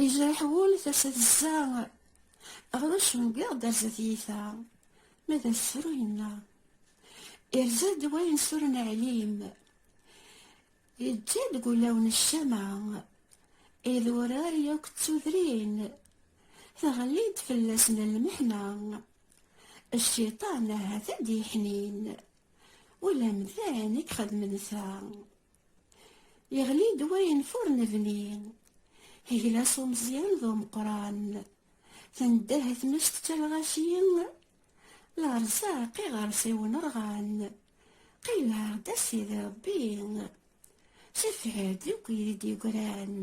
Yejreḥ wul tasa tezza Ɣer ucengiɣ d arzat yita Ma d asefru yenna Irza-d wayen suren aɛlim Yeǧǧa deg ulawen ccama Idurar yakk d tudrin Teɣli-d fell-asen lmeḥna Cciṭan ahat ad d-yeḥnin Ula mdan i ixedmen ta Yeɣli-d wayen fur nebni. Iglas umeẓyan d umeqran. Tendeh tmes tettalɣaci. Lerzaq iɣersiwen rɣan. Qilleɛ-d a sidi Rebbi. Sefɛed akk yid d-yegran.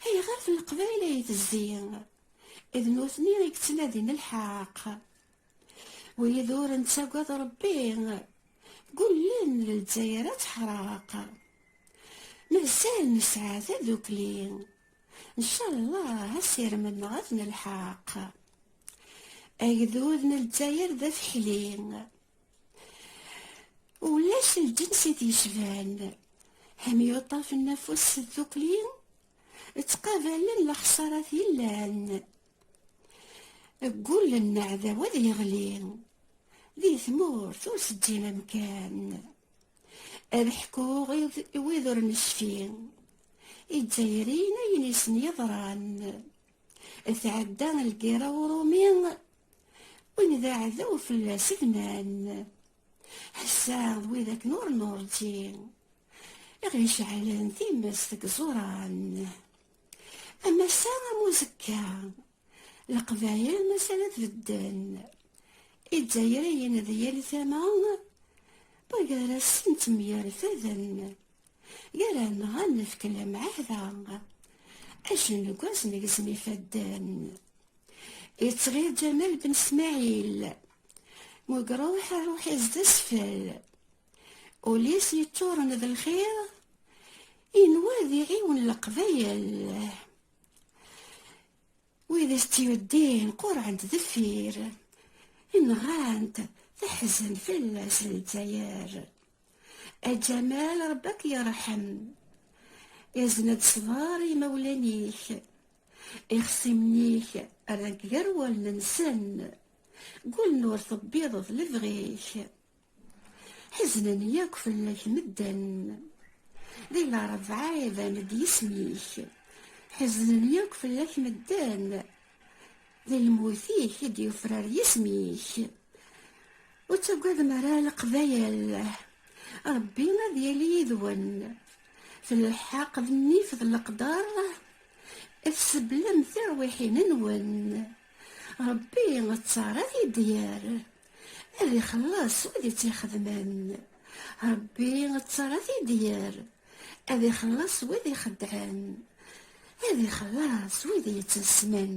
Ayɣer f leqbayel ay tezzi? D nutni i yettnadin lḥeq. Wid ur nettagad Ṛebbi, gullen Lezzayer ad teḥreq. Mazal nesɛa tadukli, ncallah asirem-nneɣ ad nelḥaq. Agdud n Lezzayer d afeḥli, ulac lǧens i t-yecban. Hemyuṭaf n afus s tdukli, ttqabalen lexṣarat yellan. Deg ul n aɛdaw ad yeɣli, di tmurt ur seǧǧin amkan. Ad ḥkuɣ i wid ur necfi, izzayrin ayen i sen-yeḍran. Tɛedda lgirra urumi, win d aɛdaw fell-as bnan. Ass-a d wid akken ur nurǧi, i ɣ-iceɛlen times deg iẓuran. am ass-a am uzekka leqbayel maca la tbedden izzayriyen d yal tama gar-asen ttemyerfaden gar-aneɣ ad nefk lemɛahda acengu-as negzem ifadden yettɣir Ǧamal Ben Smaɛil mugruḥ ruḥ-is d asfel Ulis yeččuren d lxir inwa ad iɛiwen leqbayel wid i s-tt-yuddin qurɛent deffir inɣant teḥzen fell-as lezzayer aǧamal rebbi ad k-yerḥem izen-d ṣṣber imawlan-ik ixṣimen-ik rran-k gar wallen-nsen gullen ur tebbiḍeḍ lebɣi-k Ḥeznen yakk fell-ak medden. Di lṛebɛa iban-d yisem-ik. Ḥeznen yakk fell-ak medden. Di lmut-ik i d-yufrar yisem-ik. Ur ttagadem ara leqbayel. Ṛebbi ad yili yid-wen. F lḥeqq d nnif d leqder i tseblem tirwiḥin-nwen. Ṛebbi ttaṛ ad t-id-yerr. ad ixelleṣ wid i tt-ixedmen rebbi ttara tidyar ad ixelleṣ wid ixeddɛen ad ixelleṣ wid yettasmen